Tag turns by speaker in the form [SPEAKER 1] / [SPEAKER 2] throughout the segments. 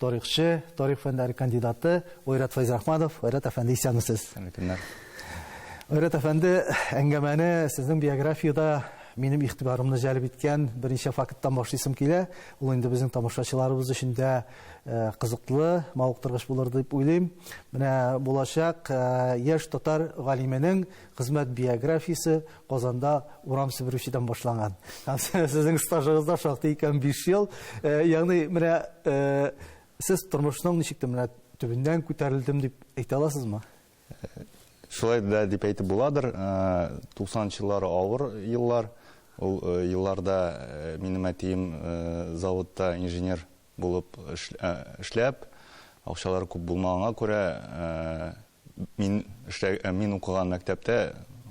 [SPEAKER 1] Тарихчы, тарих фәннәре кандидаты Айрат Фәйзрахманов. Айрат әфәнде, исәнмесез? Исәнле көннәр. Айрат әфәнде, әңгәмәне сезнең биографияда минем игътибарымны җәлеп иткән берничә факттан башлыйсым килә. Ул инде безнең тамашачыларыбыз өчен дә э, кызыклы, мавыктыргыч булыр дип уйлыйм. Менә булачак э, яшь татар галименең хезмәт биографиясе Казанда урам себерүчедән башлаган. Һәм сезнең стажыгыз да шактый икән 5 ел. Ягъни менә сез тормышның ничек тә менә төбеннән күтәрелдем дип әйтә аласызмы?
[SPEAKER 2] Шулай да дип әйтеп буладыр. 90 еллары авыр еллар. Ул елларда минем әтием заводта инженер булып эшләп, акчалары күп булмаганга күрә, Мин эшлә, э, мин укыган мәктәптә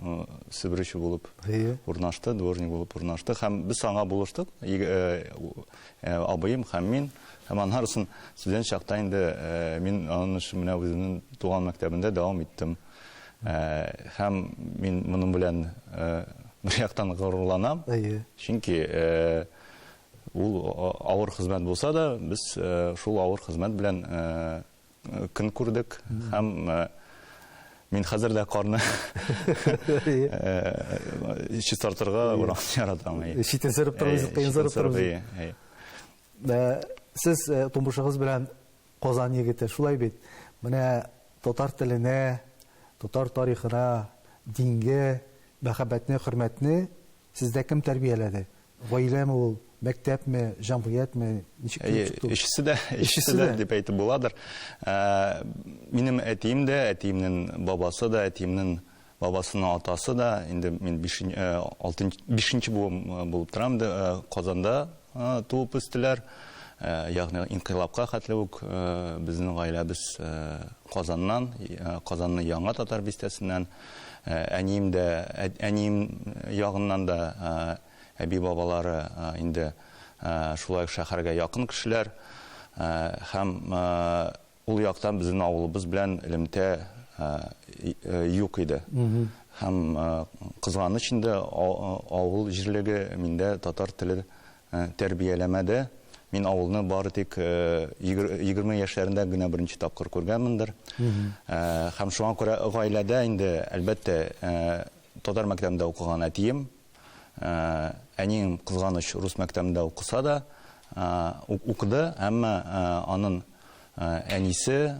[SPEAKER 2] э, себерүче булып Әйе. урнашты, дворник булып урнашты һәм без аңа булыштык. Иг- э, у- э, Абыем һәм мин. Һәм аннары соң студент чакта инде э, мин аның эшен менә үземнең туган мәктәбендә дәвам иттем. Э, Һәм мин моның белән э, бер яктан горурланам. Әйе. Чөнки э, ул а- авыр хезмәт булса да, без э, шул авыр хезмәт белән э, көн күрдек һәм мин хәзер дә карны чистартырга яратам. Читен сырып торыгыз,
[SPEAKER 1] кыен сырып торыгыз. Сез тумышыгыз белән Казан егете, шулай бит? Менә татар теленә, татар тарихына, дингә мәхәббәтне, хөрмәтне Сездә кем тәрбияләде? Гаиләме ул, мәктәпме, җәмгыятьме? Ничек килеп чыкты ул? Өчесе дә,
[SPEAKER 2] өчесе дә дип әйтеп буладыр. Минем әтием дә, әтиемнең бабасы да, әтиемнең бабасының атасы да, инде мин бишенче буын булып торам, Казанда туып үстеләр. Ягъни инкыйлабка хәтле үк безнең гаиләбез Казаннан, Казанның Яңа татар бистәсеннән. Әнием дә, әнием ягыннан да әби-бабалары инде шулай ук шәһәргә якын кешеләр. Һәм Ул яктан безнең авылыбыз белән элемтә юк иде. Һәм кызганыч инде авыл җирлеге миндә татар теле тәрбияләмәде. Мин авылны бары тик 20 яшьләрендә генә беренче тапкыр күргәнмендер. Һәм шуңа күрә гаиләдә инде, әлбәттә, татар мәктәбендә укыган әтием, Әнием, кызганыч, рус мәктәбендә укыса да, укыды, әмма анын әнисе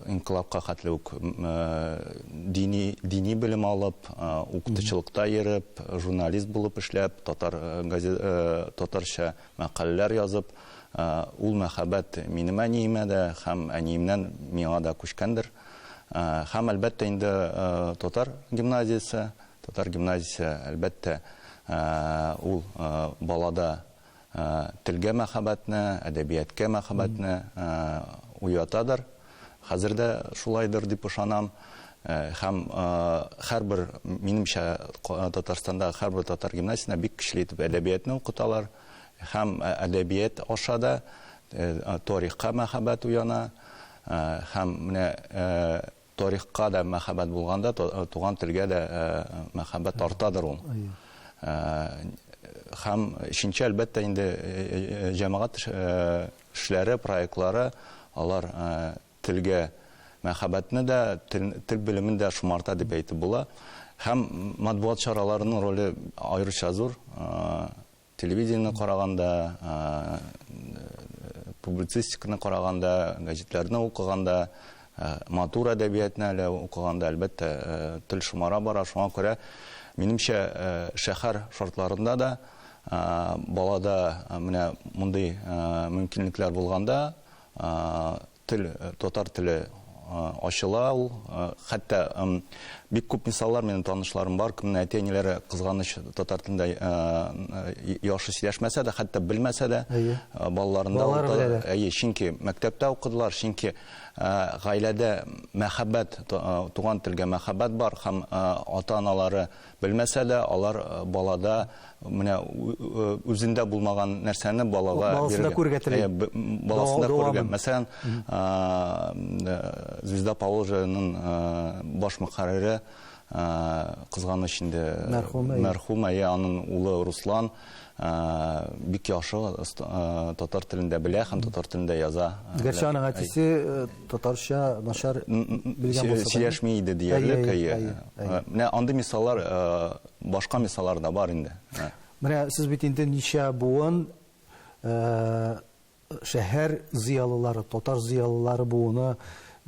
[SPEAKER 2] инкыйлабка хәтле үк дини дини белем алып, укытучылыкта йөреп, журналист булып эшләп, татар татарча мәкаләләр язып, ул мәхәббәт минем әниемә дә һәм әниемнән миңа да күчкәндер. Һәм, әлбәттә, инде татар гимназиясе, Татар гимназиясе, әлбәттә, ул балада телгә мәхәббәтне, әдәбияткә мәхәббәтне уятадыр. Хәзер дә шулайдыр дип ышанам. Һәм һәрбер, минемчә, Татарстанда һәрбер татар гимназиясендә бик көчле итеп әдәбиятны укыталар. Һәм әдәбият аша да тарихка мәхәббәт уяна. Һәм менә Тарихка да мәхәббәт булганда, туган телгә дә мәхәббәт артадыр ул. Һәм өченче, әлбәттә, инде җәмәгать эшләре, проектлары, алар телгә мәхәббәтне дә, тел белемен дә шомарта дип әйтеп була. Һәм матбугат чараларының роле аеруча зур. Телевидениене караганда, публицистиканы караганда, гәҗитләрне укыганда, матур әдәбиятны әле укыганда, әлбәттә, тел шомара бара. Шуңа күрә, минемчә, шәһәр шартларында да балада менә мондый мөмкинлекләр булганда, Тел, татар теле ачыла ул. Хәтта бик күп мисаллар минем танышларым бар, кемнең әти-әниләре кызганыч татар телендә яхшы сөйләшмәсә дә, хәтта белмәсә дә, балаларында Балалар ул та- әйе, чөнки мәктәптә укыдылар, чөнки гаиләдә мәхәббәт, туган телгә мәхәббәт бар һәм ата-аналары Белмәсә дә, алар балада менә үзендә булмаган нәрсәне балага баласында күрергә тели.
[SPEAKER 1] Баласында күрергә.
[SPEAKER 2] Мәсәлән, Звезда Положенның баш мөхәррире кызганыч инде мәрхүмә, я аның улы Руслан бик яхшы татар телендә белә һәм татар телендә яза. Гәрчә аның әтисе
[SPEAKER 1] татарча начар белгән булса да. Сөйләшми иде диярлек.
[SPEAKER 2] Менә андый мисаллар, башка мисаллар да бар инде. Менә сез бит
[SPEAKER 1] инде ничә буын Шәһәр зыялылары, татар зыялылары буыны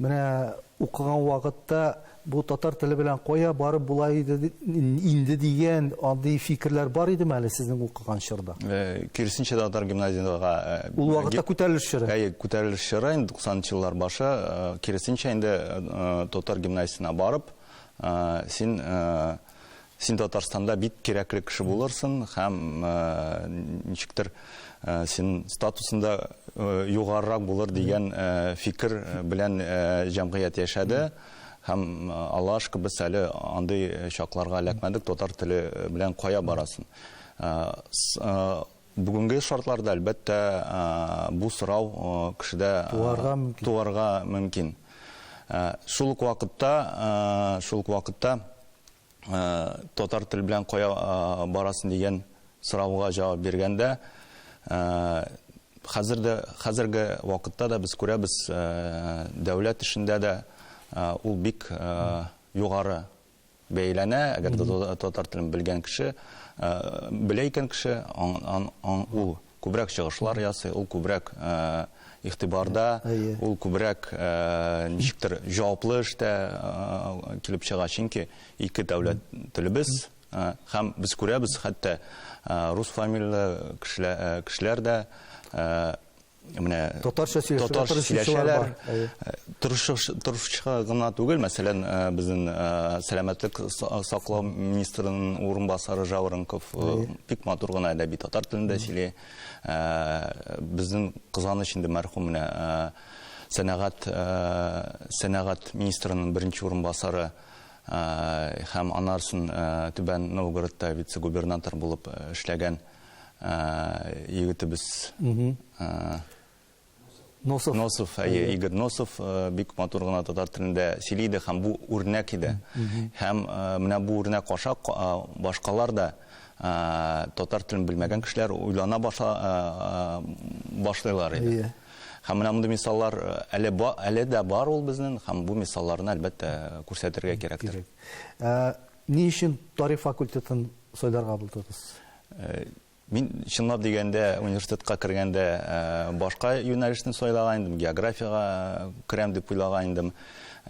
[SPEAKER 1] менә укыган вакытта бу татар теле белән кая барып була иде инде дигән андый фикерләр бар идеме әле сезнең укыган чорда? Э, киресенчә татар
[SPEAKER 2] гимназиягә э, Ул вакытта күтәрелеш
[SPEAKER 1] чоры. Әйе, күтәрелеш чоры инде
[SPEAKER 2] 90 еллар башы, э, киресенчә инде татар гимназиясенә барып, син Син Татарстанда бик кирәкле кеше булырсың һәм ничектер син статусында югарырак булыр дигән фикер белән җәмгыять яшәде һәм Аллаһ шөкер без әле андый чакларга эләкмәдек татар теле белән кая барасын Бүгенге шартларда, әлбәттә, бу сорау кешедә туарга мөмкин. Шул ук вакытта, шул ук вакытта татар тел белән кая барасың дигән сорауга җавап биргәндә, хәзер дә, хәзерге вакытта да без күрәбез, дәүләт эшендә дә ул бик югары Бәяләнә, әгәр дә татар телен белгән кеше, белә икән кеше, ул күбрәк чыгышлар ясый, ул күбрәк игътибарда, ул күбрәк ничектер җаваплы эштә килеп чыга, чөнки ике дәүләт телебез һәм без күрәбез, хәтта рус фамилияле кешеләр дә менә татарча сөйләшәләр. Торышча гына түгел, мәсәлән, э, безнең э, сәламәтлек саклау министрының урынбасары Жаворонков э, бик матур гына әдәби татар телендә сөйли. Безнең кызганыч инде мәрхүм менә сәнәгать сәнәгать министрының беренче урынбасары һәм анарсын Түбән Новгородта вице-губернатор булып эшләгән егетебез Носов. Носов, әйе, Игорь Носов э, бик матур гына татар телендә сөйли иде һәм бу үрнәк иде. Һәм э, менә бу үрнәк аша э, башкалар да татар телен белмәгән кешеләр уйлана баша башлыйлар иде. Һәм менә мондый мисаллар әле әле дә бар ул безнең һәм бу мисалларны әлбәттә күрсәтергә кирәктер.
[SPEAKER 1] Ни өчен тарих факультетын сайларга булдыгыз? Мин
[SPEAKER 2] чынлап дигәндә университетка кергәндә башка юнәлешне сайлаган идем, географиягә керәм дип уйлаган идем.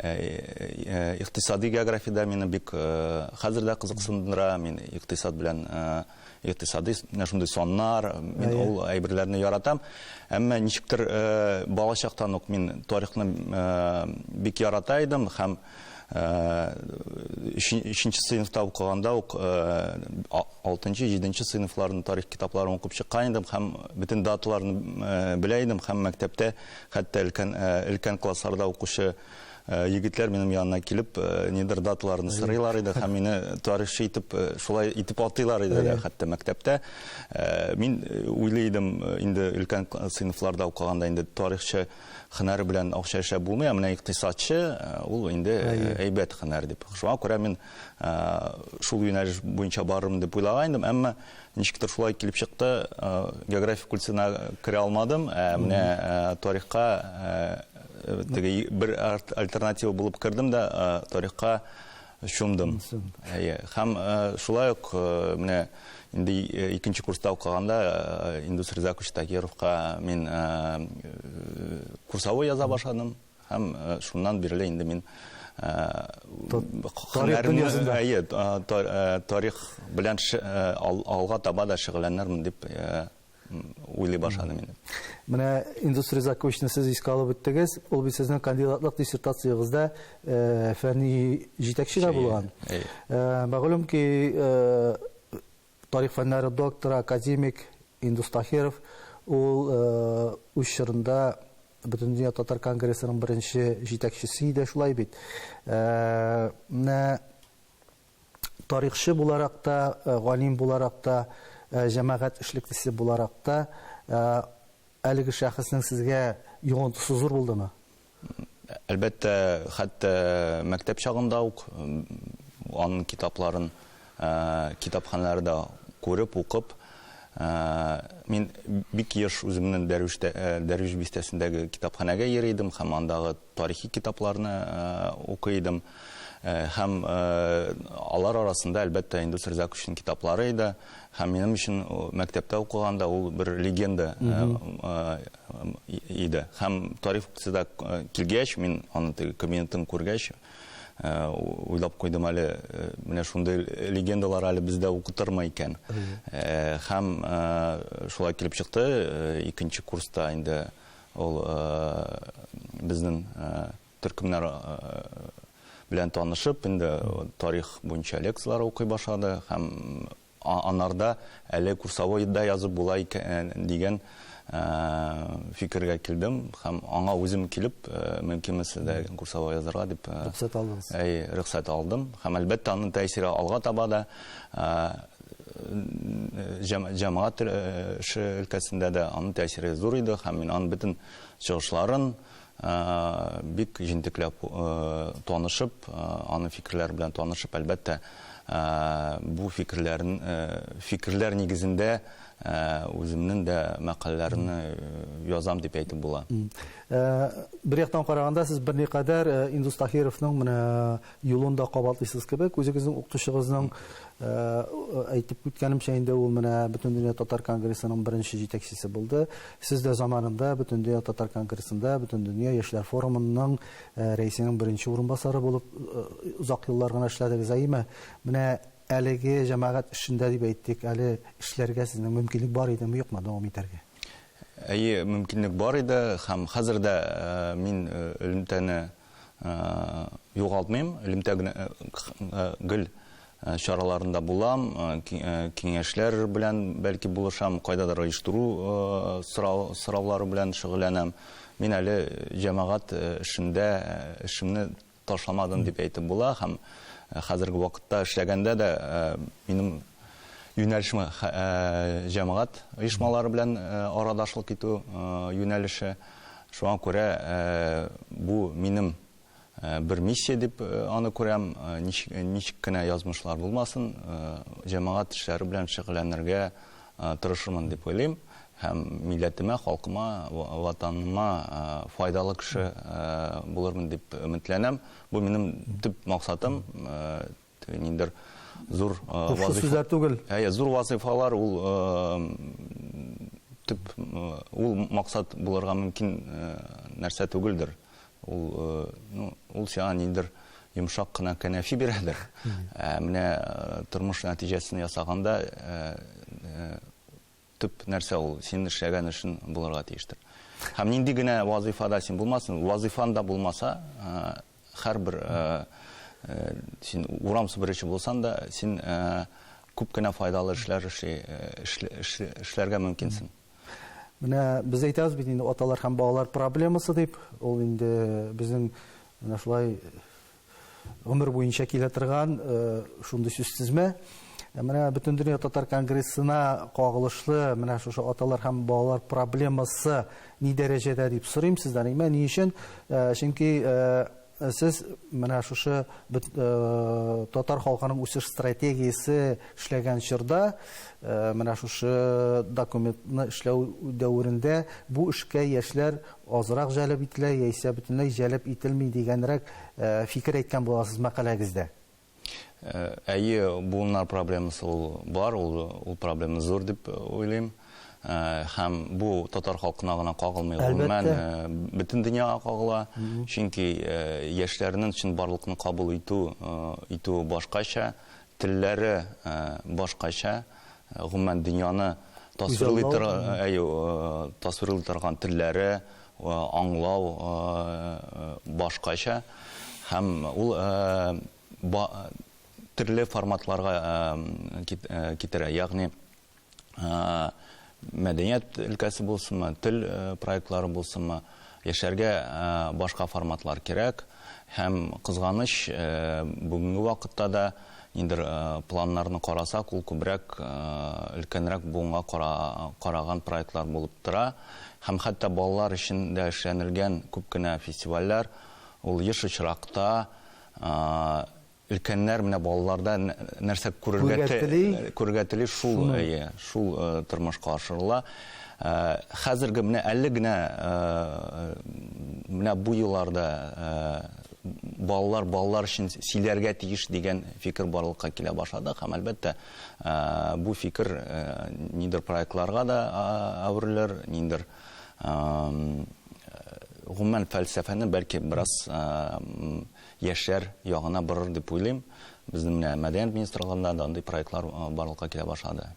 [SPEAKER 2] Икътисади география дә мине бик хәзер дә кызыксындыра. Мин икътисад белән икътисади шундый саннар, мин ул әйберләрне яратам. Әмма ничектер балачактан ук мин тарихны бик ярата идем һәм өченче сыйныфта укыганда ук алтынчы җиденче сыйныфларның тарих китапларын укып чыккан идем һәм бөтен даталарны белә идем һәм мәктәптә хәтта өлкән өлкән классларда укучы егетләр минем янына килеп нидер даталарны сорыйлар иде һәм мине тарихчы итеп шулай итеп атыйлар иде дә хәтта мәктәптә мин уйлый идем инде өлкән сыйныфларда укыганда инде тарихчы Хынар белән акча эшләп булмый, ә менә икътисадчы ул инде әйбәт хынар дип. Шуңа күрә мин шул юнәлеш буенча барырмын дип уйлаган идем, әмма ничектер шулай килеп чыкты, география культына керә алмадым, ә менә тарихка теге бер альтернатива булып кердем дә тарихка Чумдым. Әйе. Һәм шулай ук менә инде икенче курста укыганда Индус Ризакович Тагировка мин курсовой яза башладым һәм шуннан бирле инде мин тарих белән алга таба да шөгыльләнермен дип уйлый башладым инде. Менә Индус
[SPEAKER 1] Ризаковичны сез искә алып үттегез. Ул бит сезнең кандидатлык диссертациягездә э, фәнни җитәкче дә булган. Э, мәгълүм ки, э, тарих фәннәре докторы, академик Индус Тахиров ул үз чорында Бөтендөнья татар конгрессының беренче җитәкчесе иде, шулай бит. Менә тарихчы буларак та, галим буларак та, җәмәгать эшлеклесе буларак та әлеге шәхеснең сезгә йогынтысы зур булдымы? Әлбәттә,
[SPEAKER 2] хәтта мәктәп чагында
[SPEAKER 1] ук
[SPEAKER 2] аның китапларын китапханәләрдә күреп, укып, мин бик еш үземнең Дәрвиш бистәсендәге китапханәгә йөри идем һәм андагы тарихи китапларны укый идем. Һәм алар арасында, әлбәттә, Индус Ризаковичның китаплары иде. Һәм минем өчен мәктәптә укыганда ул бер легенда иде. Һәм тарих факультетына килгәч, мин аны теге кабинетын күргәч, уйлап куйдым әле, менә шундый легендалар әле бездә укытырмы икән. Һәм шулай килеп чыкты, икенче курста инде Ул безнең төркемнәр белән танышып, инде тарих буенча лекцияләр укый башлады һәм анарда әле курсовой да язып була икән дигән фикергә килдем һәм аңа үзем килеп, мөмкинме сездә курсовой язарга дип рөхсәт алдым һәм әлбәттә аның тәэсире алга таба да җәмәгать эше өлкәсендә дә аның тәэсире зур иде һәм мин аның бөтен чыгышларын бик җентекләп танышып, аның фикерләре белән танышып, әлбәттә, бу фикерләрен фикерләр нигезендә үземнең дә мәкаләләрне язам дип әйтеп була.
[SPEAKER 1] Бер яктан караганда, сез берникадәр Индус Таһировның менә Юлын да кабатлыйсыз кебек. Үзегезнең укытучыгызның, әйтеп үткәнемчә инде, ул менә Бөтендөнья татар конгрессының беренче җитәкчесе булды. Сез дә заманында Бөтендөнья татар конгрессында, Бөтендөнья яшьләр форумының рәисенең беренче урынбасары булып озак еллар гына эшләдегез. Әйеме? Менә әлеге җәмәгать эшендә, дип әйтик, әле эшләргә сезнең мөмкинлек бар идеме, юкмы дәвам итәргә? Әйе,
[SPEAKER 2] мөмкинлек бар иде һәм хәзер дә мин элемтәне югалтмыйм, элемтә гел чараларында булам, киңәшләр белән бәлки булышам, кайдадыр оештыру сораулары белән шөгыльләнәм. Мин әле җәмәгать эшендә эшемне ташламадым дип әйтеп була һәм хәзерге вакытта эшләгәндә дә минем юнәлешме җәмәгать оешмалары белән арадашлык итү юнәлеше. Шуңа күрә бу минем бер миссия дип аны күрәм. Ничек кенә язмышлар булмасын, җәмәгать эшләре белән шөгыльләнергә тырышырмын дип уйлыйм һәм милләтемә, халкыма, Ватаныма файдалы кеше булырмын дип өметләнәм. Бу минем төп максатым. Ниндер зур вазыйфа. Сүзләр түгел.
[SPEAKER 1] Әйе, зур вазыйфалар
[SPEAKER 2] ул төп ул максат булырга мөмкин нәрсә түгелдер. Ул, ну, ул сиңа ниндер йомшак кына кәнәфи бирәдер. Ә менә тормыш нәтиҗәсен ясаганда төп нәрсә ул, син эшләгән эшен булырга тиештер. Һәм нинди генә вазыйфада син булмасын, вазыйфан да булмаса, һәрбер син урам сыпыручы булсан да, син күп кенә файдалы эшләр эшли, эшләргә мөмкинсең. Менә
[SPEAKER 1] без әйтәбез бит инде аталар һәм балалар проблемасы дип, ул инде безнең менә шулай гомер буенча килә торган шундый сүз тезмә. Менә Бөтендөнья татар конгрессына кагылышлы менә шушы аталар һәм балалар проблемасы ни дәрәҗәдә дип сорыйм сездән. Әмма ни өчен? Чөнки сез менә шушы татар халкының үсеш стратегиясе эшләгән чорда менә шушы документны эшләү дәверендә бу эшкә яшьләр азрак җәлеп ителә яисә бөтенләй җәлеп ителми дигәнрәк фикер әйткән буласыз мәкаләгездә.
[SPEAKER 2] Әйе, буыннар проблемасы ул бар, ул проблема зур дип уйлыйм. Һәм бу татар халкына гына кагылмый, гомумән бөтен дөньяга кагыла. Чөнки яшьләрнең чынбарлыкны кабул итү башкача, Телләре башкача, гомумән дөньяны тасвирлый торган телләре, аңлау башкача. Һәм ул төрле форматларга китерә. Ягъни. мәдәният өлкәсе булсынмы, тел проектлары булсынмы, яшәргә башка форматлар кирәк. Һәм кызганыч, бүгенге вакытта да нидер планнарны карасак, ул күбрәк өлкәнрәк буынга караган проектлар булып тора. Һәм хәтта балалар өчен дә эшләнелгән күп кенә фестивальләр, ул еш очракта Өлкәннәр менә балаларда нәрсә күрергә тели, күрергә тели шул, әйе, шул тормышка ашырыла. Хәзерге менә әле генә менә бу елларда балалар балалар өчен сөйләргә тиеш дигән фикер барлыкка килә башлады һәм әлбәттә бу фикер нидер проектларга да әверелер ниндер гомумән фәлсәфәне бәлки бераз яшьләр ягына борыр дип уйлыйм. Безнең менә мәдәният министрлыгында да андый проектлар барлыкка килә башлады.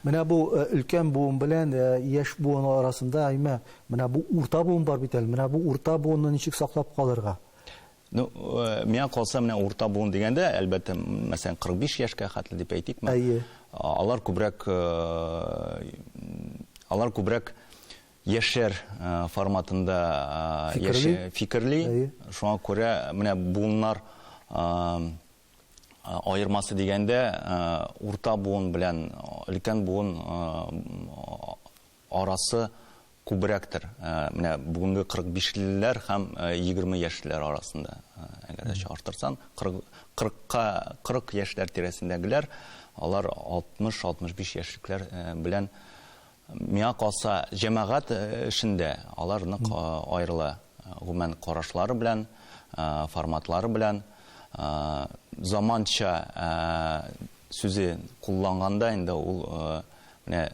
[SPEAKER 2] Менә бу
[SPEAKER 1] өлкән буын белән яшь буын арасында, әйме, менә бу урта буын бар бит әле. Менә бу урта буынны ничек саклап калырга? Ну,
[SPEAKER 2] миңа калса, менә урта буын дигәндә, әлбәттә, мәсәлән, 45 яшькә хәтле дип әйтикме. Әйе. Алар күбрәк, алар күбрәк яшьләр форматында фикерли, шуңа күрә менә буыннар аермасы дигәндә урта буын белән өлкән буын арасы күбрәктер, менә бүгенге 45 леләр һәм 20 яшьлеләр арасында, әгәр дә чагыштырсаң, 40 яшьләр тирәсендәгеләр, алар 60-65 яшьлекләр белән Миңа калса, җәмәгать эшендә алар нык аерыла, гомумән карашлары белән, форматлары белән. Заманча сүзе кулланганда инде ул менә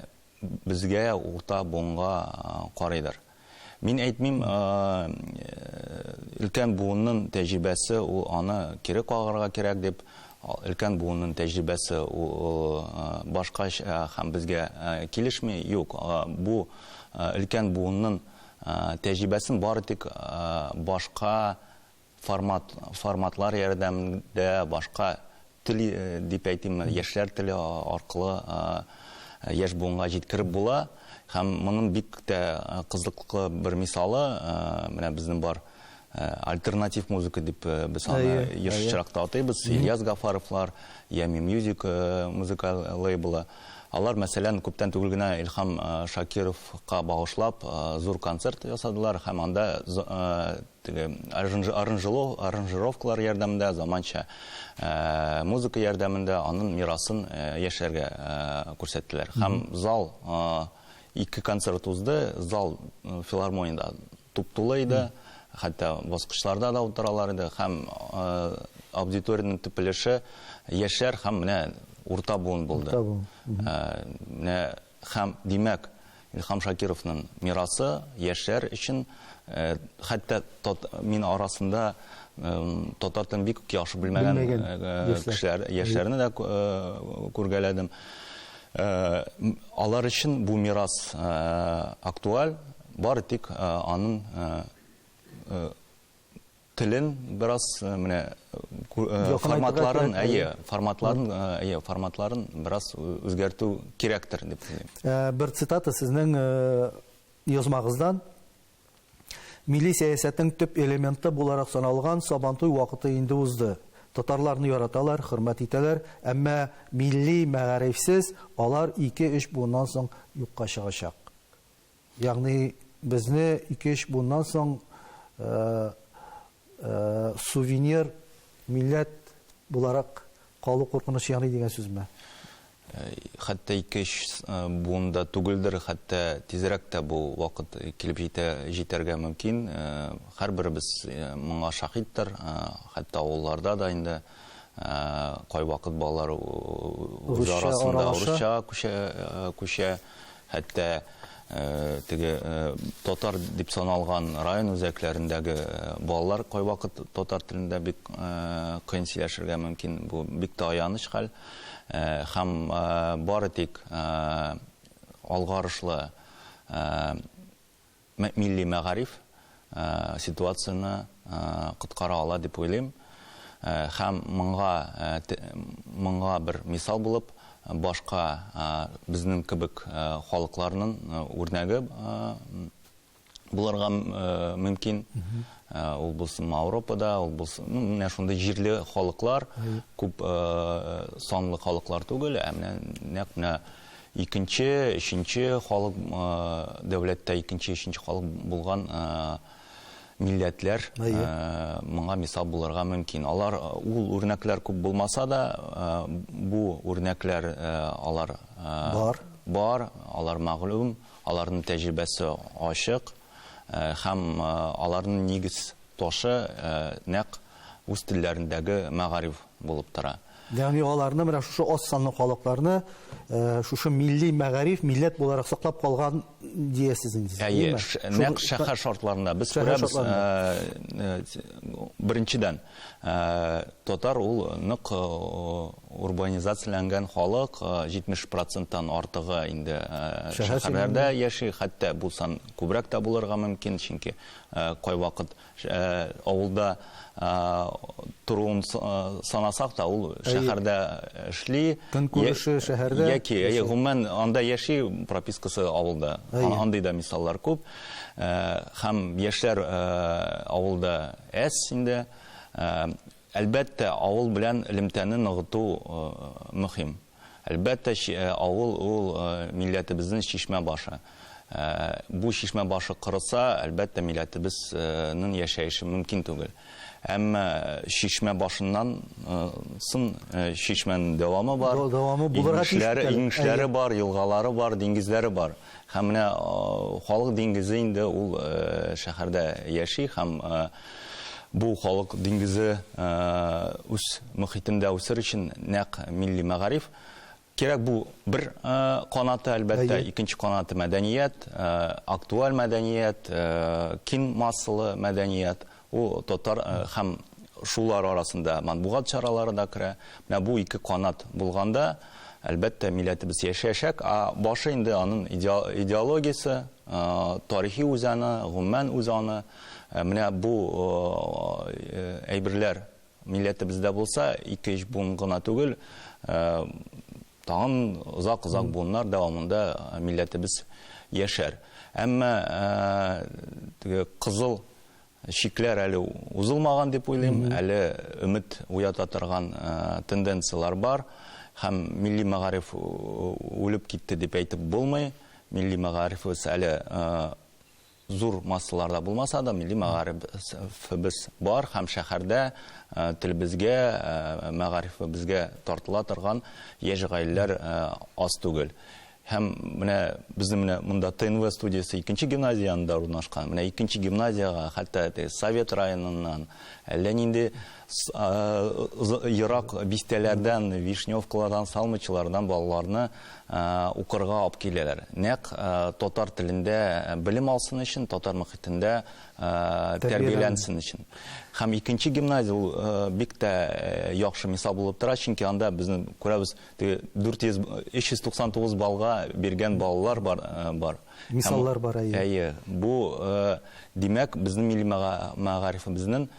[SPEAKER 2] безгә, урта буынга карыйдыр. Мин әйтмим, өлкән буыннын тәҗрибәсе ул аны кире кагарга кирәк дип, өлкән буыннын тәҗрибәсе ул башкача һәм безгә килешми, юк, бу өлкән буыннын тәҗрибәсен бары тик башка формат форматлар ярдәмендә башка тел дип әйтим яшьләр теле аркылы яшь буынга җиткереп була һәм моның бик тә кызыклы бер мисалы менә безнең бар альтернатив музыка дип без аны еш чиракта атыйбыз Ильяс Гафаровлар Ями Music музыка лейблы алар мәсәлән күптән түгел генә Илхам Шакировка багышлап зур концерт ясадылар һәм анда Теге аржынжы арынжыло арынжыровкалар ярдәмендә заманча музыка ярдәмендә анын мирасын яшьләргә күрсәттеләр. Һәм зал ике концерт узды, зал филармониядә туп-тулы иде, хәтта баскычларда да утыралар иде һәм аудиториянең төп өлеше яшьләр һәм менә урта буын булды. Урта буын. Менә Һәм, димәк, Илһам Шакировның мирасы яшьләр өчен, хәтта мин арасында татар телен бик яхшы белмәгән кешеләр, яшьләрне дә күргәләдем. Алар өчен бу мирас актуаль, бары тик аның Телен бераз менә форматларын, әйе, форматларын, әйе, форматларын бераз үзгәртү кирәктер дип уйлыйм. Бер цитата сезнең
[SPEAKER 1] язмагыздан. Милли сәясәтнең төп элементы буларак саналган Сабантуй вакыты инде узды. Татарларны яраталар, хөрмәт итәләр, әмма милли мәгарифсез алар ике-өч буыннан соң юкка чыгачак. Ягъни безне ике-өч буыннан соң сувенир милләт буларак калу куркынычы яный дигән сүзме?
[SPEAKER 2] Хәтта ике-өч буын да түгелдер, хәтта тизрәк тә бу вакыт килеп җитә, җитәргә мөмкин. Һәрберебез моңа шаһиттер. Хәтта авылларда да инде кайвакыт балалар үз арасында русча күчә. Хәтта теге татар дип саналган район үзәкләрендәге балалар кайвакыт татар телендә бик кыен сөйләшергә мөмкин. Бу бик тә аяныч хәл. Һәм бары тик алгарышлы милли мәгариф ситуацияне коткара ала дип уйлыйм. Һәм моңа моңа бер мисал булып башка безнең кебек халыкларның үрнәге булырга мөмкин. Ул булсын Ауропада, ул булсын, ну, менә шундый җирле халыклар, күп санлы халыклар түгел, ә менә нәкъ менә Икенче, өченче халык дәүләттә икенче, өченче халык булган милләтләр моңа мисал булырга мөмкин. Алар ул үрнәкләр күп булмаса да, бу үрнәкләр алар бар, бар, алар мәгълүм, аларның тәҗрибәсе ачык һәм аларның нигез ташы нәкъ үз телләрендәге мәгариф булып тора. Ягъни аларны менә
[SPEAKER 1] шушы аз санлы халыкларны шушы милли мәгариф, милләт буларак саклап калган диясез инде. Әйе, нәкъ
[SPEAKER 2] шәһәр шартларында без күрәбез. Беренчедән, татар ул нык урбанизацияләнгән халык, 70%-тан артыгы инде шәһәрләрдә яши, хәтта бу сан күбрәк тә булырга мөмкин, чөнки кайвакыт Авылда торуын санасак та, ул шәһәрдә эшли. Көнкүреше
[SPEAKER 1] шәһәрдә. Яки, әйе, гомумән
[SPEAKER 2] анда яши, пропискасы авылда. Андый да мисаллар күп. Һәм яшьләр авылда әз инде. Әлбәттә, авыл белән элемтәне ныгыту мөһим. Әлбәттә, авыл ул милләтебезнең чишмә башы. Бу чишмә башы корыса, әлбәттә, милләтебез нең яшәеше мөмкин түгел. Әмма чишмә башыннан сын чишмәнең дәвамы бар, имешләре бар, елгалары бар, диңгезләре бар. Һәм менә халык диңгезе инде ул шәһәрдә яши һәм бу халык диңгезе үз мөхитендә үсер өчен нәкъ милли мәгариф кирәк. Бу бер канаты, әлбәттә. Икенче канаты мәдәният, актуаль мәдәният, киң массалы мәдәният. Бу татар һәм шулар арасында матбугат чаралары да керә. Менә бу ике канат булганда, әлбәттә, милләтебез яшәячәк. А башы инде анын идеологиясе, тарихи үзаны, гомумән үзаны. Менә бу әйберләр милләтебездә булса, ике-өч буын гына түгел, Тагын озак-озак буыннар дәвамында милләтебез яшәр. Әмма теге кызыл чикләр әле узылмаган дип уйлыйм, әле өмет уята торган тенденцияләр бар. Һәм милли мәгариф үлеп китте дип әйтеп булмый. Милли мәгарифыбыз әле Зур массаларда булмаса да, милли мәгарифебез бар һәм шәһәрдә телебезгә, мәгарифебезгә тартыла торган яшь гаиләләр аз түгел. Һәм менә безнең менә монда ТНВ студиясе икенче гимназия янында урнашкан. Менә икенче гимназиягә хәтта Совет районыннан, әллә нинди ерак бистәләрдән, Вишневкалардан, Салмычылардан балаларны укырга алып киләләр. Нәкъ татар телендә белем алсын өчен, татар мөхитендә тәрбияләнсен өчен. Һәм икенче гимназия ул бик тә яхшы мисал булып тора, чөнки анда безнең күрәбез, теге 400, 399 баллга биргән балалар бар, бар. Мисаллар бар,
[SPEAKER 1] әйе. Әйе, бу,
[SPEAKER 2] димәк, безнең милли мәгарифебезнең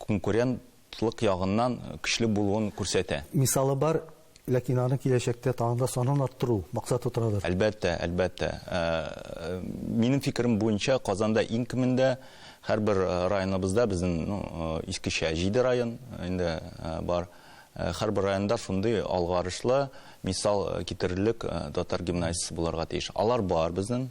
[SPEAKER 2] конкурент Тлык ягыннан көчле булуын күрсәтә. Мисалы бар,
[SPEAKER 1] ләкин аны киләчәктә тагын да санын арттыру максаты торадыр. Әлбәттә, әлбәттә.
[SPEAKER 2] Минем фикерем буенча, Казанда иң кимендә һәрбер районыбызда, безнең, ну, искечә җиде район инде бар, һәрбер районда шундый алгарышлы мисал китерерлек татар гимназиясе булырга тиеш. Алар бар безнең.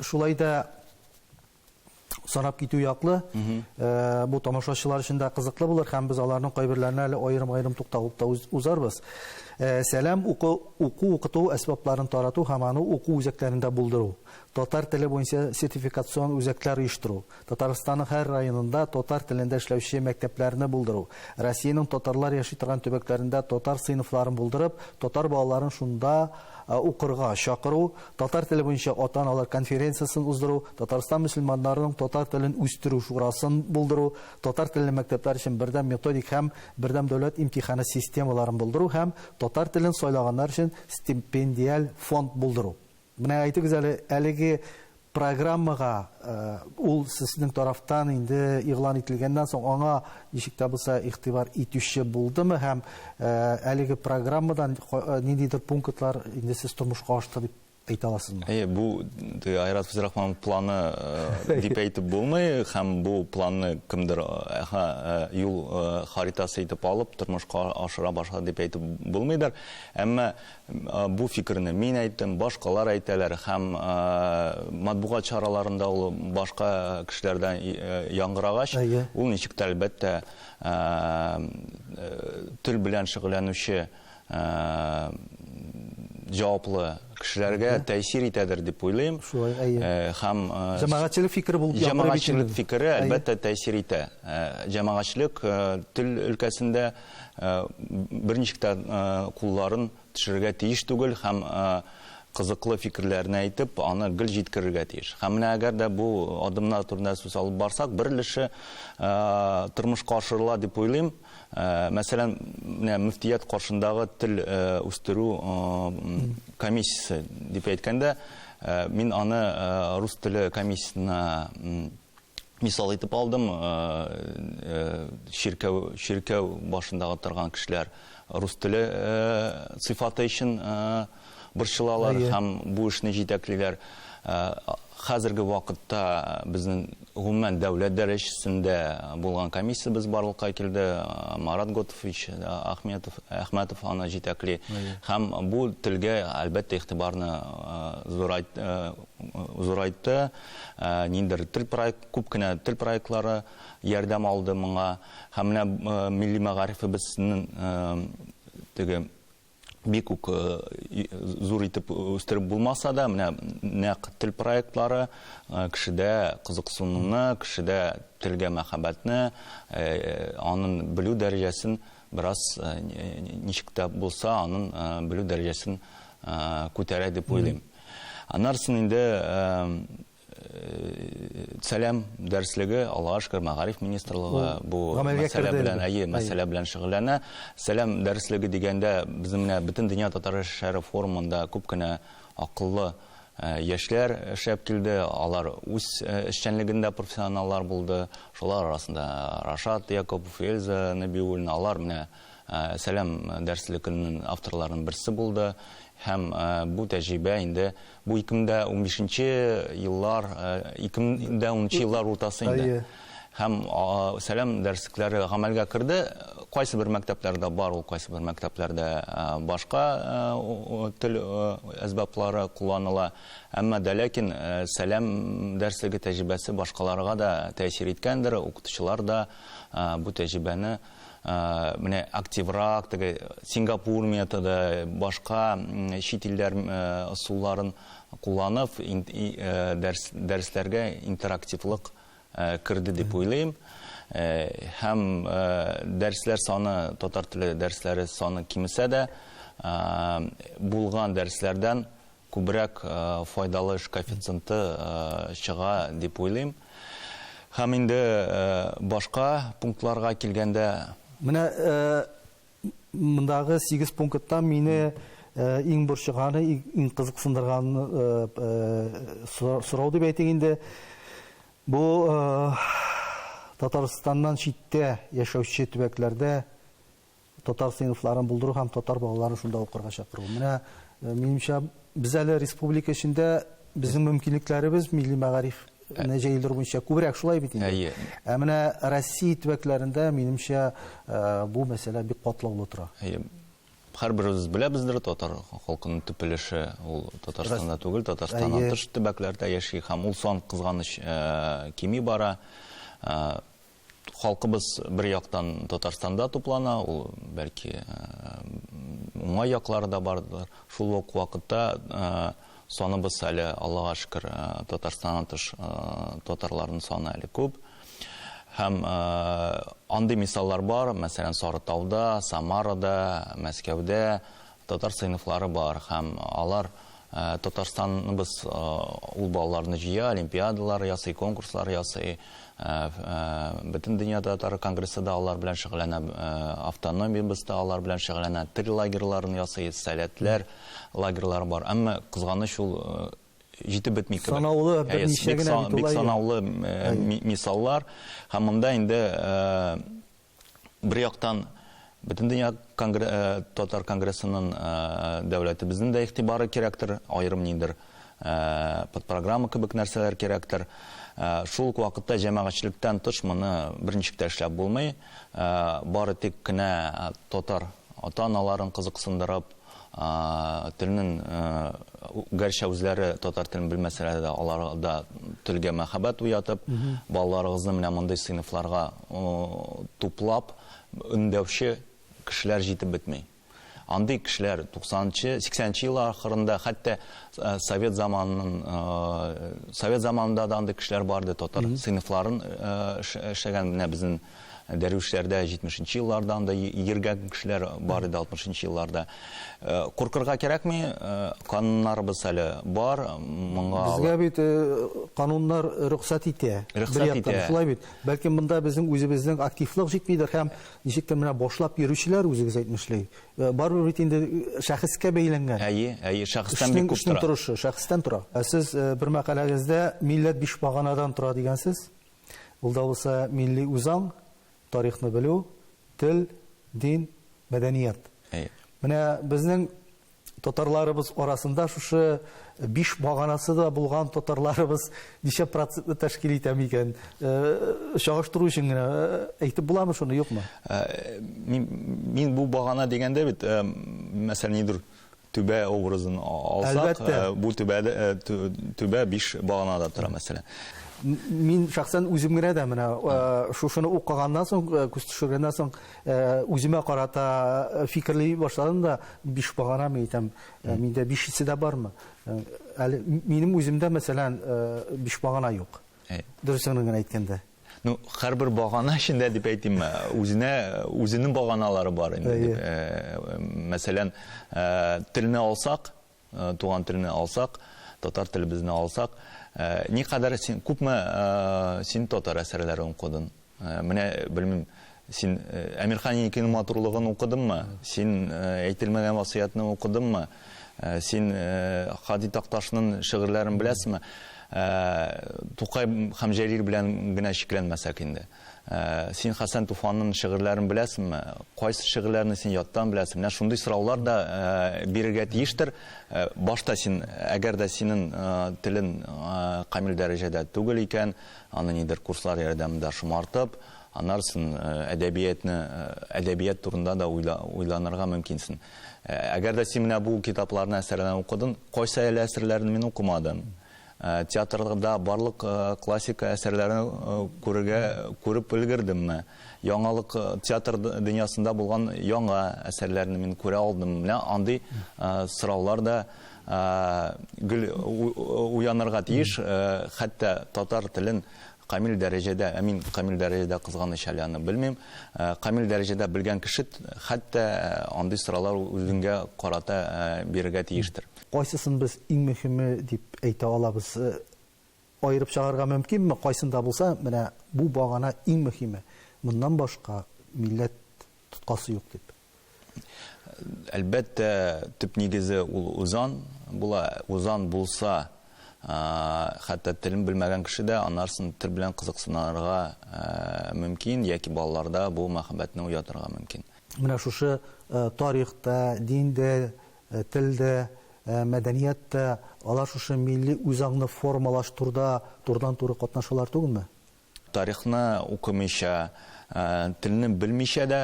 [SPEAKER 1] Шулай да санап китү яклы. Э, бу тамашачылар өчен дә кызыклы булыр һәм без аларның кайберләренә әле аерым-аерым тукталып та узарбыз. Э, сәлам уку уку укыту әсбапларын тарату һәм аны уку үзәкләрендә булдыру. Татар теле буенча сертификацион үзәкләр оештыру. Татарстанның һәр районында татар телендә эшләүче мәктәпләрне булдыру, Россиянең татарлар яши торган төбәкләрендә татар сыйныфларын булдырып, татар балаларын шунда укырга чакыру, татар теле буенча ата-аналар конференциясен уздыру, Татарстан мөселманнарының татар телен үстерү шурасын булдыру, татар телле мәктәпләр өчен бердәм методик һәм бердәм дәүләт имтиханы системаларын булдыру һәм татар телен сайлаганнар өчен стипендиаль фонд булдыру. Менә әйтегез әле, әлеге программага ул сезнең тарафтан инде игълан ителгәннән соң аңа ничек тә булса игътибар итүче булдымы һәм әлеге программадан ниндидер пунктлар инде сез тормышка ашты дип әйтә аласызмы? Әйе, бу
[SPEAKER 2] Айрат Фәзрахманов планы дип әйтеп булмый һәм бу планны кемдер юл харитасы итеп алып тормышка ашыра башлады дип әйтеп булмыйдыр. Әмма Бу фикерне мин әйттем, башкалар әйтәләр һәм матбугат чараларында ул башка кешеләрдән яңгырагач, ул ничек тә, әлбәттә, тел белән шөгыльләнүче җаваплы кешеләргә тәэсир итәдер дип уйлыйм. Шулай, әйе. Һәм Җәмәгатьчелек
[SPEAKER 1] фикере булып яңгырый бит инде. Җәмәгатьчелек фикере,
[SPEAKER 2] әлбәттә, тәэсир итә. Җәмәгатьчелек тел өлкәсендә бер ничек тә кулларын төшерергә тиеш түгел һәм кызыклы фикерләрне әйтеп, аны гел җиткерергә тиеш. Һәм менә әгәр дә бу адымнар турында сүз алып барсак, бер өлеше тормышка ашырыла дип уйлыйм. Мәсәлән, менә мөфтият каршындагы тел үстерү комиссиясе дип әйткәндә, мин аны рус теле комиссиясенә мисал итеп алдым, чиркәү, чиркәү башындагы торган кешеләр рус теле сыйфаты өчен борчылалар һәм бу эшне җитәклиләр. Хәзерге вакытта безнең гомумән дәүләт дәрәҗәсендә булган комиссиябез барлыкка килде. Марат Готович Ахметов, Әхмәтов аны җитәкли. Һәм бу телгә, әлбәттә, игътибарны зурайтты. Ниндидер тел проект, күп кенә тел проектлары ярдәм алды моңа. Һәм менә милли мәгарифебезнең теге бик үк зур итеп үстереп булмаса да, менә нәкъ тел проектлары кешедә кызыксынуны, кешедә телгә мәхәббәтне, аның белү дәрәҗәсен бераз ничек тә булса аның белү дәрәҗәсен күтәрә дип уйлыйм. Аннарсын инде Сәлам дәреслеге, Аллага шөкер, Мәгариф министрлыгы бу мәсьәлә белән, әйе, мәсьәлә белән шөгыльләнә. Сәлам дәреслеге дигәндә, безнең менә бөтен дөнья татар шәһәре форумында күп кенә акыллы яшьләр эшләп килде. Алар үз эшчәнлегендә профессионаллар булды. Шулар арасында Рашат Якупов, Эльза Нәбиуллина, алар менә Сәлам дәресле көннең авторларының берсе булды һәм бу тәҗрибә инде бу 2015 нче еллар, 2010 нчы еллар уртасы инде. Әйе. Һәм сәлам дәреслекләре гамәлгә керде. Кайсы бер мәктәпләрдә бар ул, кайсы бер мәктәпләрдә башка тел әсбаплары кулланыла. Әмма дә ләкин сәлам дәреслеге тәҗрибәсе башкаларга да тәэсир иткәндер, укытучылар да бу тәҗрибәне менә активрак теге сингапур методы башка чит илләр ысулларын кулланып дәресләргә интерактивлык керде дип уйлыйм һәм дәресләр саны татар теле дәресләре саны кимесә дә булган дәресләрдән күбрәк файдалы эш коэффициенты чыга дип уйлыйм. Һәм инде башка пунктларга килгәндә. Менә
[SPEAKER 1] мондагы сигез пункттан мине иң борчыганы, иң кызыксындырганы сорау дип әйтик инде, бу Татарстаннан читтә яшәүче төбәкләрдә татар сыйныфларын булдыру һәм татар балаларын шунда укырга чакыру. Менә минемчә без әле республика эчендә безнең мөмкинлекләребез милли мәгариф не җәелдерү буенча күбрәк шулай бит инде. Ә менә Россия төбәкләрендә минемчә бу мәсьәлә бик катлаулы тора. Әйе. Һәрберебез
[SPEAKER 2] беләбездер, татар халкының төп өлеше ул Татарстанда түгел, Татарстаннан тыш төбәкләрдә яши һәм ул сан кызганыч кими бара. Халкыбыз бер яктан Татарстанда туплана, ул бәлки уңай яклары да бардыр. Шул ук вакытта саныбыз әле Аллага шөкер Татарстаннан тыш татарларның саны әле күп. Һәм андый мисаллар бар, мәсәлән, Сарытауда, Самарада, Мәскәүдә, Татар сыйныфлары бар һәм алар Татарстаныбыз ул балаларны җыя, олимпиадалар ясый, конкурслар ясый. Бөтен дөнья татар конгрессы да алар белән шөгыльләнә, автономиябез дә алар белән шөгыльләнә. Тел лагерьларын ясый, сәләтләр лагерьлары бар. Әмма кызганыч ул җитеп бетми кебек. Санаулы берничә генә
[SPEAKER 1] бит улай. Бик санаулы
[SPEAKER 2] мисаллар. Һәм монда инде бер яктан Бөтендөнья конгр... Э, татар конгрессының э, дәүләтебезнең дә игътибары кирәктер, аерым ниндер э, подпрограмма кебек нәрсәләр кирәктер. Шул ук вакытта җәмәгатьчелектән тыш моны берничек тә эшләп булмый. Бары тик кенә татар Ата-аналарын кызыксындырып, телнен, гәрчә үзләре татар телен белмәсәләр дә, аларда телгә мәхәббәт уятып, балаларыгызны менә мондый сыйныфларга туплап, өндәүче кешеләр җитеп бетми. Андый кешеләр 90 нчы, 80 нче еллар ахырында, хәтта совет заманын, совет заманында да андый кешеләр бар иде, татар сыйныфларын эшләгән, менә безнен Дәрвишләрдә җитмешенче елларда андый йөргән кешеләр бар иде алтмышынчы елларда. Э, куркырга кирәкми, э, кануннарыбыз әле бар, моңа... Безгә
[SPEAKER 1] бит э, кануннар рөхсәт итә. Рөхсәт итә. Шулай бит. Бәлки монда безнең үзебезнең активлык җитмидер һәм ничектер менә башлап йөрүчеләр үзегез әйтмешли. Барыбер бит инде шәхескә бәйләнгән. Әйе, әйе, шәхестән
[SPEAKER 2] бик күп тора. Торышы, шәхестән тора. Ә
[SPEAKER 1] сез бер мәкаләгездә милләт биш баганадан тора дигәнсез. Ул да булса милли үзаң, тарихны белү, тел, дин, мәдәният. Әйе. Менә безнең татарларыбыз арасында шушы биш баганасы да булган татарларыбыз ничә процентны тәшкил итә микән? Э, чагыштыру өчен генә э, әйтеп буламы шуны, юкмы? Э,
[SPEAKER 2] мин бу багана дигәндә бит, мәсәлән, нидер түбә образын алсак, бу түбә түбә биш баганада тора, мәсәлән. Мин
[SPEAKER 1] шәхсән үзем генә дә менә шушыны укыганнан соң, күз төшергәннән соң, үземә карата фикерли башладым да, биш багана мин әйтәм, миндә бишесе дә бармы? Әле минем үземдә, мәсәлән, биш багана юк. Дөресен генә әйткәндә. Ну, һәрбер
[SPEAKER 2] багана эчендә дип әйтим, э, үзенә үзенең баганалары бар инде дип. Э, мәсәлән, э, телне алсак, туган телне алсак, татар телебезне алсак, никадәр син күпме син татар әсәрләре укыдың? Менә белмим, Син Әмирхан Еникинең матурлыгын укыдыңмы? Син Әйтелмәгән васыятьне укыдыңмы? Син Һади Такташның шигырьләрен беләсеңме? Тукай һәм Җәлил белән генә чикләнмәсәк инде. Син Хәсән Туфанның шигырьләрен беләсеңме? Кайсы шигырьләрне син яттан беләсең? Менә шундый сораулар да бирергә тиештер. Башта син, әгәр дә синең телең камил дәрәҗәдә түгел икән, аны нидер курслар ярдәмендә шомартып, Аннарсын әдәбиятны, әдәбият турында да уйланырга мөмкинсен. Әгәр дә син менә бу китапларны, әсәрләрне укыдың, кайсы әле әсәрләрне мин укымадым? Театрда барлык классика әсәрләрен күрергә, күреп өлгердемме? Яңалык, театр дөньясында булган яңа әсәрләрне мин күрә алдыммы? Менә андый сораулар да гел уянырга тиеш, хәтта татар телен Камил дәрәҗәдә, ә мин камил дәрәҗәдә кызганыч әле аны белмим, камил дәрәҗәдә белгән кеше хәтта андый сораулар үзеңгә карата бирергә тиештер. Кайсысын без
[SPEAKER 1] иң мөһиме дип әйтә алабыз? Аерып чыгарырга мөмкинме? Кайсында булса, менә бу багана иң мөһиме, моннан башка милләт тоткасы юк дип. Әлбәттә,
[SPEAKER 2] төп нигезе ул узан була. Узан булса, хәтта телен белмәгән кеше дә анарсын тел белән кызыксынырга мөмкин яки балаларда бу мәхәббәтне уятырга мөмкин. Менә шушы
[SPEAKER 1] тарих та, дин дә, тел дә, мәдәният тә, алар шушы милли үзаңны формалаштурда турыдан-туры катнашалар түгелме? Тарихны
[SPEAKER 2] укымыйча, телне белмичә дә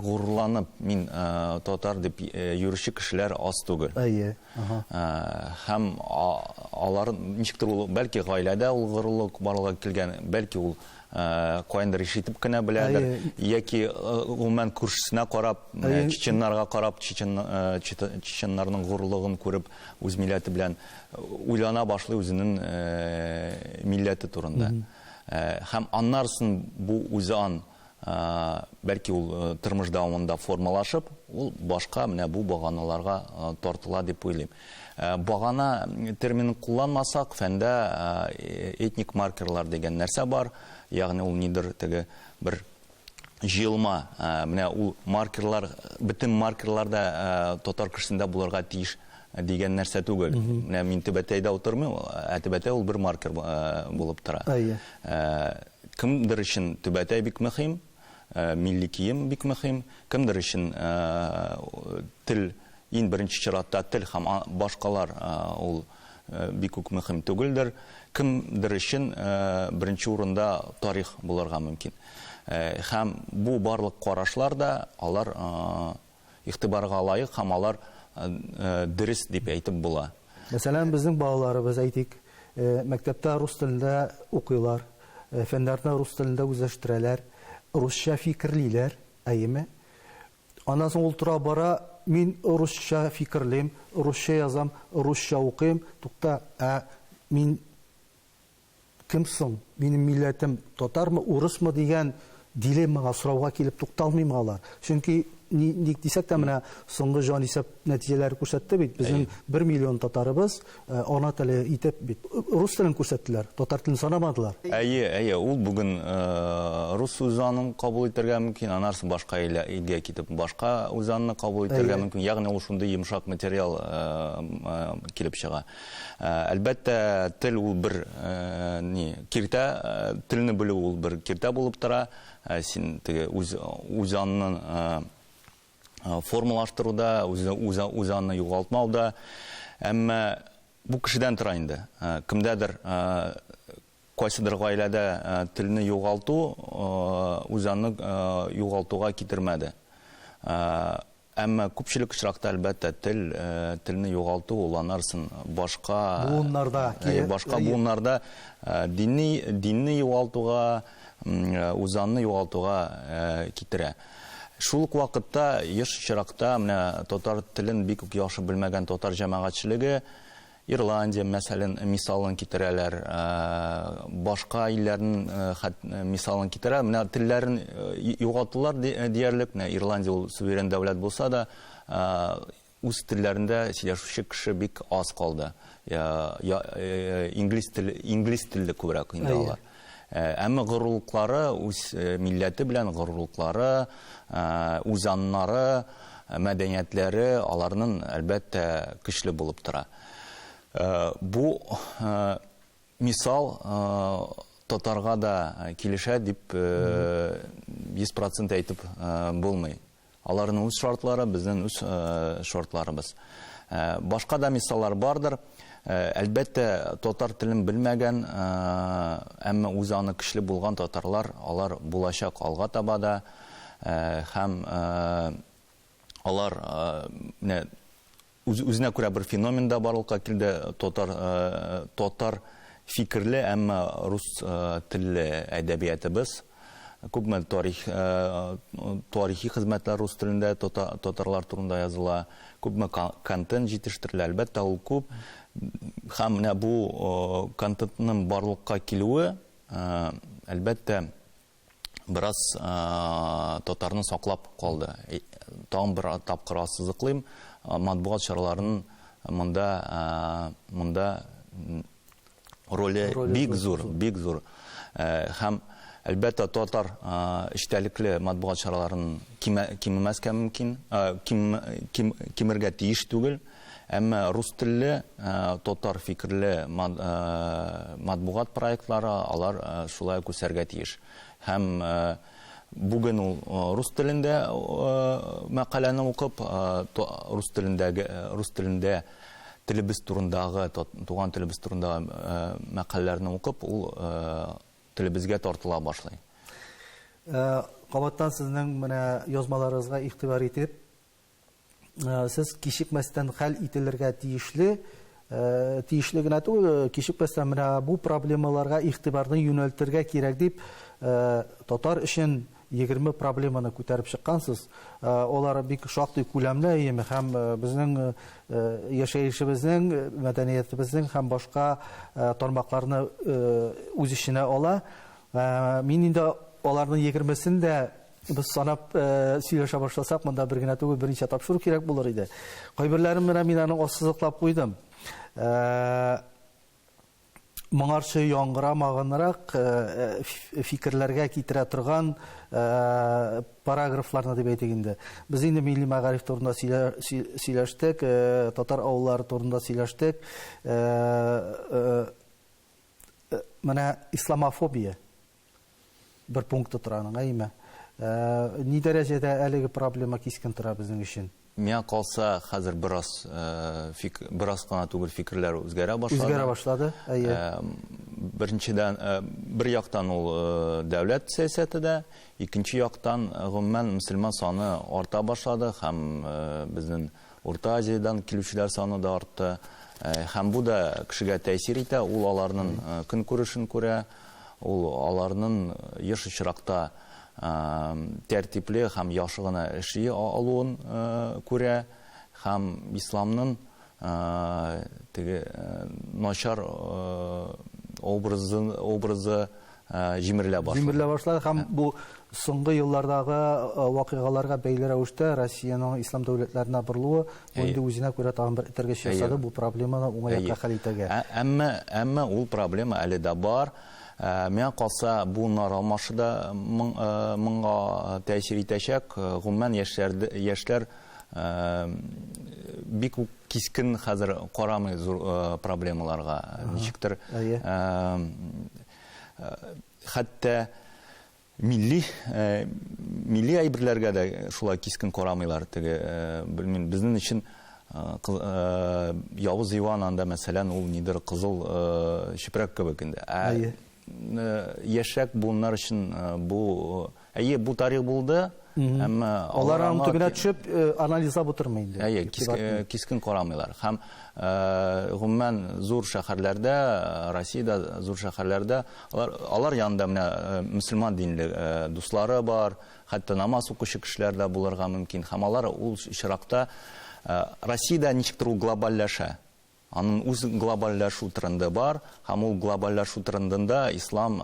[SPEAKER 2] горурланып мин татар дип йөрүче кешеләр аз түгел. Әйе, аһа. Һәм алар ничектер ул, бәлки гаиләдә ул горурлык барлыгы килгән, бәлки ул каяндыр ишетеп кенә беләдер, яки гомумән күршесенә карап, чеченнарга карап, чеченнарның горурлыгын күреп, үз милләте белән уйлана башлый үзенең милләте турында. Һәм аннарсын бу үзан бәлки ул тормыш дәвамында формалашып, ул башка менә бу баганаларга тартыла дип уйлыйм. Багана терминын кулланмасак, фәндә этник маркерлар дигән нәрсә бар, ягъни ул нидер теге бер җыелма, менә ул маркерлар, бөтен маркерлар да татар кешесендә булырга тиеш дигән нәрсә түгел. Менә мин Түбәтәйдә утырмыйм, ә Түбәтәй ул бер маркер булып тора. Кемдер өчен Түбәтәй бик мөһим, милли кием бик мөһим, кемдер өчен тел, иң беренче чиратта тел һәм башкалар ул бик үк мөһим түгелдер. Кемдер өчен беренче урында тарих булырга мөмкин. Һәм бу барлык карашлар да алар игътибарга лаек һәм алар дөрес дип әйтеп була. Мәсәлән, безнең
[SPEAKER 1] балаларыбыз, әйтик, мәктәптә рус телендә укыйлар, фәннәрне рус телендә үзләштерәләр, русча фикерлиләр, әйеме? Аннан соң ул тора-бара, Мин русча фикерлим, русча язам, русча укыйм. Тукта, ә мин кем соң? Минем милләтем татармы, урысмы? дигән дилеммага, сорауга килеп тукталмыймы алар? Чөнки ни, ник дисәк тә, менә соңгы җанисәп нәтиҗәләре күрсәтте бит, безнең бер миллион татарыбыз, Ана теле итеп бит рус телен күрсәттеләр, татар телен санамадылар. Әйе, әйе, ул
[SPEAKER 2] бүген рус үзанын кабул итәргә мөмкин, анарсы башка илгә китеп башка үзанны кабул итәргә мөмкин. Ягъни ул шундый йомшак материал килеп чыга. Әлбәттә, тел ул бер ни, киртә, телне белү ул бер киртә булып тора. Син теге үз үзанны формалаштыруда, үз аны югалтмауда. Әмма бу кешедән тора инде. Кемдәдер, кайсыдыр гаиләдә телне югалту үз аны югалтуга китермәде. Әмма күпчелек очракта, әлбәттә, тел, телне югалту ул анарсын башка. Буыннарда. Башка буыннарда динне югалтуга. үзаңны югалтуга китерә. Шул ук вакытта еш очракта менә татар телен бик үк яхшы белмәгән татар җәмәгатьчелеге Ирландия мәсәлен мисалын китерәләр, башка илләрнең мисалын китерәләр. Менә телләрен югалтулар диярлек, менә Ирландия ул суверен дәүләт булса да, Үз телләрендә сөйләшүче кеше бик аз калды. Инглиз теле, инглиз телле күбрәк инде алар. Әмма горурлыклары, үз милләте белән горурлыклары, үз аннары, мәдәниятләре аларның, әлбәттә, көчле булып тора. Бу мисал татарга да килешә дип 100 процент әйтеп булмый. Аларның үз шартлары, безнең үз шартларыбыз. Башка да мисаллар бардыр. Әлбәттә, татар телен белмәгән, әмма үзе аны көчле булган татарлар, алар булачак алга таба да. Һәм алар менә Үз-үзенә күрә бер феномен да барлыкка килде, татар, татар фикерле, әмма рус телле әдәбиятыбыз. Күпме тарих, тарихи хезмәтләр рус телендә татарлар турында языла, күпме контент җитештерелә. Әлбәттә, ул күп. Һәм менә бу контентның барлыкка килүе, әлбәттә, бераз татарны саклап калды. Тагын бер тапкыр ассызыклыйм, матбугат чараларын монда монда роле бик зур, бик зур. Һәм әлбәттә татар эчтәлекле матбугат чараларын кимемәскә мөмкин, кимергә тиеш түгел. Әмма рус телле, татар фикерле матбугат проектлары алар шулай ук үсәргә тиеш. Һәм бүген ул рус телендә мәкаләне укып, рус телендәге, рус телендә телебез турындагы, туган телебез турындагы мәкаләләрне укып, ул телебезгә тартыла башлый. Кабаттан
[SPEAKER 1] сезнең менә язмаларыгызга игътибар итеп, сез кичекмәстән хәл ителергә тиешле Э, тиешле генә түгел э, кичекмәстән менә бу проблемаларга игътибарны юнәлтергә кирәк дип э, татар өчен егерме проблеманы күтәреп чыккансыз алар бик шактый күләмле әйеме һәм безнең яшәешебезнең мәдәниятебезнең һәм башка тармакларны үз эченә ала мин инде аларның егермесен дә Без санап сөйләшә башласак, монда бер генә түгел, берничә тапшыру кирәк булыр иде. Кайберләрен менә мин аның ассызыклап куйдым. Моңарчы яңгырамагынрак фикерләргә китерә торган параграфларны дип әйтик инде. Без инде милли мәгариф турында сөйләштек, татар авыллары турында сөйләштек. Менә исламофобия бер пункты тора аның, әйме. Ә, ни дәрәҗәдә әлеге проблема кискен тора безнең өчен? Миңа калса,
[SPEAKER 2] хәзер бераз э, фик, бераз кына түгел фикерләр үзгәрә башлады. Үзгәрә башлады, әйе.
[SPEAKER 1] Э, беренчедән,
[SPEAKER 2] э, бер яктан ул дәүләт сәясәте дә, икенче яктан, гомумән, мөселман саны арта башлады һәм безнең Урта Азиядән килүчеләр саны да артты. Һәм бу да кешегә тәэсир итә, ул аларның көнкүрешен күрә, ул аларның еш очракта тәртипле һәм яхшы гына эшли алуын күрә һәм исламның теге начар образы җимерелә башлады. Җимерелә башлады һәм бу
[SPEAKER 1] соңгы еллардагы вакыйгаларга бәйле рәвештә Россиянең ислам дәүләтләренә борылуы бу инде үзенә күрә тагын бер этәргеч ясады бу проблеманы уңай якка хәл итәргә. Әмма, әмма ул
[SPEAKER 2] проблема әле дә бар. Миңа калса, бу нар алмашы да моңа тәэсир итәчәк. Гомумән, яшьләр, яшьләр Бик үк кискен хәзер карамый зур проблемаларга. Ничектер хәтта милли милли әйберләргә дә шулай кискен карамыйлар. Теге белмим, безнең өчен Явыз Иван анда мәсәлән ул нидер кызыл чүпрәк кебек инде. Ә яшьрәк буыннар өчен бу, әйе, бу тарих булды, әмма алар аның төбенә
[SPEAKER 1] төшеп анализлап утырмый инде. Әйе, кискен
[SPEAKER 2] карамыйлар. Һәм гомумән зур шәһәрләрдә, Россиядә зур шәһәрләрдә алар алар янында менә мөселман динле дуслары бар, хәтта намаз укучы кешеләр дә булырга мөмкин. Һәм алар ул очракта Россиядә ничектер ул глобальләшә. Анын үз глобальләшү тренды бар, һәм ул глобальләшү трендында ислам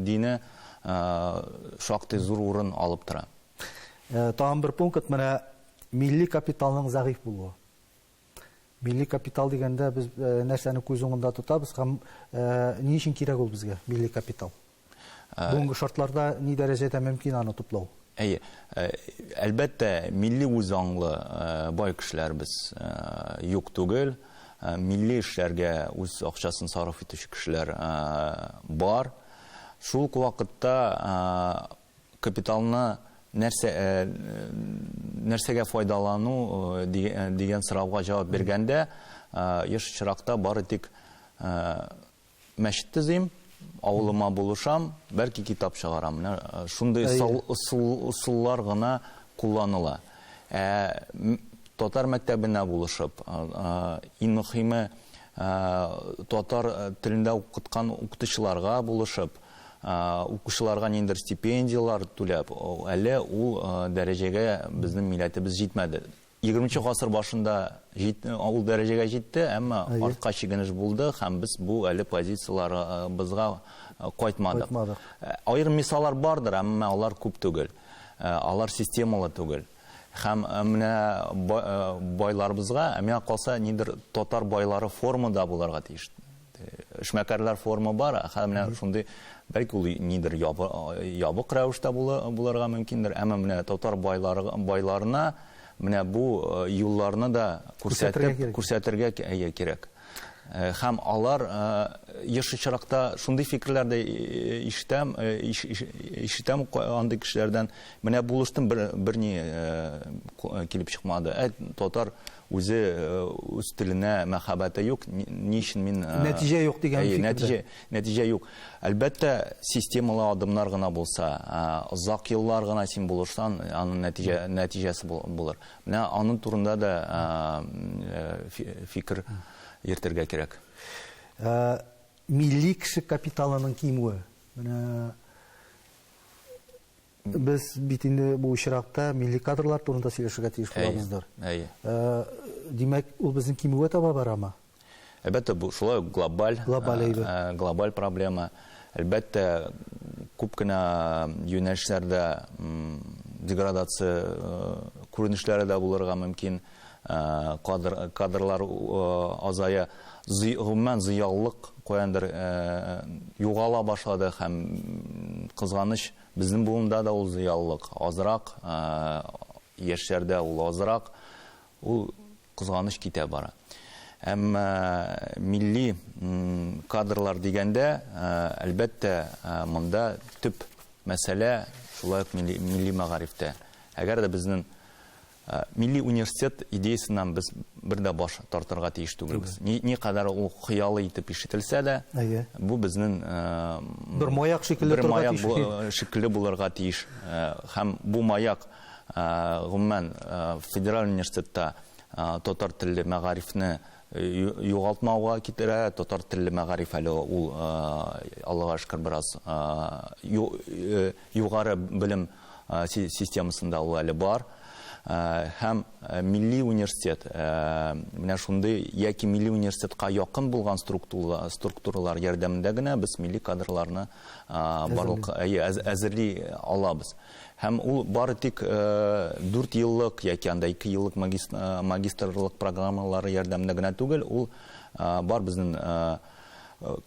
[SPEAKER 2] дине шактый зур урын алып тора. Тагын
[SPEAKER 1] бер пункт, менә милли капиталның зәгыйфь булуы. Милли капитал дигәндә без нәрсәне күз уңында тотабыз һәм ни өчен кирәк ул безгә, милли капитал? Бүгенге шартларда ни дәрәҗәдә мөмкин аны туплау? Әйе. Әлбәттә,
[SPEAKER 2] милли үзаңлы бай кешеләребез юк түгел. Милли эшләргә үз акчасын сарыф итүче кешеләр бар. Шул ук вакытта капиталны нәрсә нәрсәгә файдалану дигән сорауга җавап биргәндә, еш очракта бары тик мәчет төзим, авылыма булышам, бәлки китап чыгарам. Менә э, шундый ысуллар гына кулланыла. Ә татар мәктәбенә булышып, иң мөхиме татар э, телендә укыткан укытучыларга булышып, укучыларга ниндер стипендиялар түләп, әле ул дәрәҗәгә безнең милләтебез җитмәде. Егерменче гасыр башында җит, ул дәрәҗәгә җитте, әмма Әйе. артка чигенеш булды һәм без бу әле позицияләребезгә кайтмадык. Кайтмадык. Аерым мисаллар бардыр, әмма алар күп түгел. Алар системалы түгел. Һәм менә байларыбызга, ә миңа калса, нидер татар байлары форумы да булырга тиеш. Эшмәкәрләр форумы бар, хәзер менә шундый, бәлки ул нидер ябык рәвештә булырга мөмкиндер, әмма менә татар байларына менә бу юлларны да күрсәтергә кирәк. Һәм алар еш очракта шундый фикерләр дә ишетәм, ишетәм андый кешеләрдән, менә булыштым, берни килеп чыкмады. Әй, татар Үзе үз теленә мәхәббәте юк, ни өчен мин Нәтиҗә юк дигән фикердә.
[SPEAKER 1] Нәтиҗә, нәтиҗә юк.
[SPEAKER 2] Әлбәттә, системалы адымнар гына булса, озак еллар гына син булышсаң, аның нәтиҗә, нәтиҗәсе булыр. Менә аның турында да фикер йөртергә кирәк. Милли
[SPEAKER 1] кеше капиталының кимүе. Менә Без бит инде бу очракта милли кадрлар турында сөйләшергә тиеш булабыздыр. Әйе. Димәк, ул безнең кимүгә таба барамы? Әлбәттә, бу
[SPEAKER 2] шулай глобаль, глобаль, глобаль проблема. Әлбәттә, күп кенә юнәлешләрдә деградация күренешләре дә булырга мөмкин. Кадр кадрлар азая зый гомумән зыялылык каяндыр югала башлады һәм кызганыч безнең буында да ул зыялылык азрак яшьләрдә ул азрак ул кызганыч китә бара әмма милли кадрлар дигәндә әлбәттә монда төп мәсьәлә шулай ук милли мәгарифтә әгәр дә безнең Милли университет идеясеннән без бер дә баш тартырга тиеш түгелбез. Ни, никадәр ул хыялы итеп ишетелсә дә, бу безнең бер
[SPEAKER 1] маяк шикелле торырга тиеш. Бер маяк
[SPEAKER 2] шикелле булырга тиеш. Һәм бу маяк, гомумән, федераль университетта татар телле мәгарифне югалтмауга китерә. Татар телле мәгариф әле ул, Аллага шөкер, бераз югары белем системасында ул әле бар. Һәм милли университет, менә шундый яки милли университетка якын булган структуралар ярдәмендә генә без милли кадрларны барлык әзерли алабыз. Һәм ул бары тик дүрт еллык яки анда ике еллык магистрлык программалары ярдәмендә генә түгел, ул бар безнең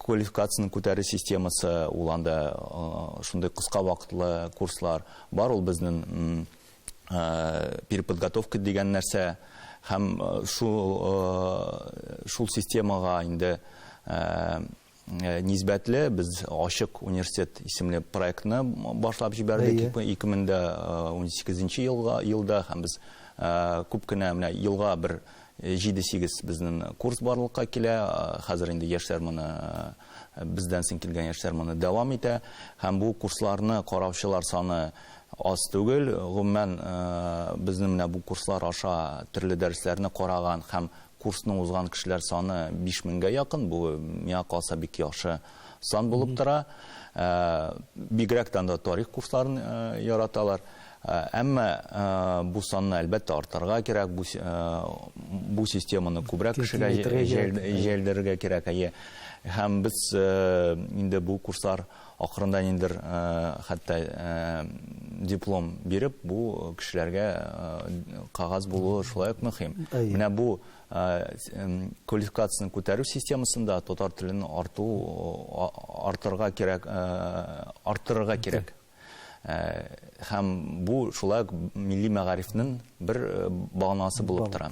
[SPEAKER 2] квалификацияне күтәрү системасы, ул анда шундый кыска вакытлы курслар бар, ул безнең переподготовка дигән нәрсә. Һәм шул системага инде Э, нисбәтле без ачык университет исемле проектны башлап җибәрдек 2018 э, елга елда һәм без э, күп кенә менә елга бер 7-8 безнең курс барлыкка килә хәзер инде яшьләр моны бездән соң килгән яшьләр моны дәвам итә һәм бу курсларны караучылар саны аз түгел гомумән безнең менә бу курслар аша төрле дәресләрне караган һәм Курсны узган кешеләр саны 5000гә якын, бу миңа калса бик яхшы сан булып тора. Бигрәктән дә тарих курсларын яраталар. Әмма бу санны әлбәттә артырга кирәк, бу бу системаны күбрәк кешегә җәелдерергә кирәк. Әйе. Һәм без инде бу курслар Акрында ниндидер хәтта диплом биреп, бу кешеләргә кагаз булуы шулай ук мөһим. Менә бу квалификацияне күтәрү системасында татар телен арту артырга кирәк, арттырырга кирәк. Һәм бу шулай ук милли мәгарифнең бер баганасы булып тора.